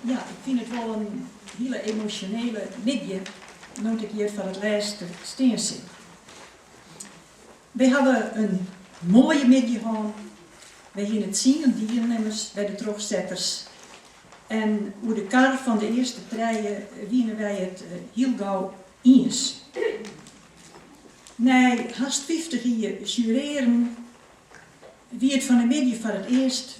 Ja, ik fyn it wol in hiele emosjonele middei no't ik hjir foar it lêst stean sil. Wy hawwe in moaie middei hân, wy hiene tsien dielnimmers by de trochsetters en oer de kar fan de earste trije wiene wy it hiel gau iens. Nei hast fyftich jier jurearjen wie it fan de middei foar it earst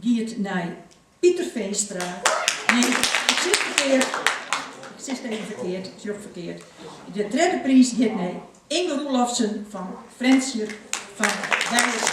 giet nei Pieter Veenstra. Nee, ik sis ferkeard. Ik sis it even ferkeard. Ik sjoch ferkeard. De tredde priis giet nei Inge Roelofsen fan Frjentsjer fan Wijers.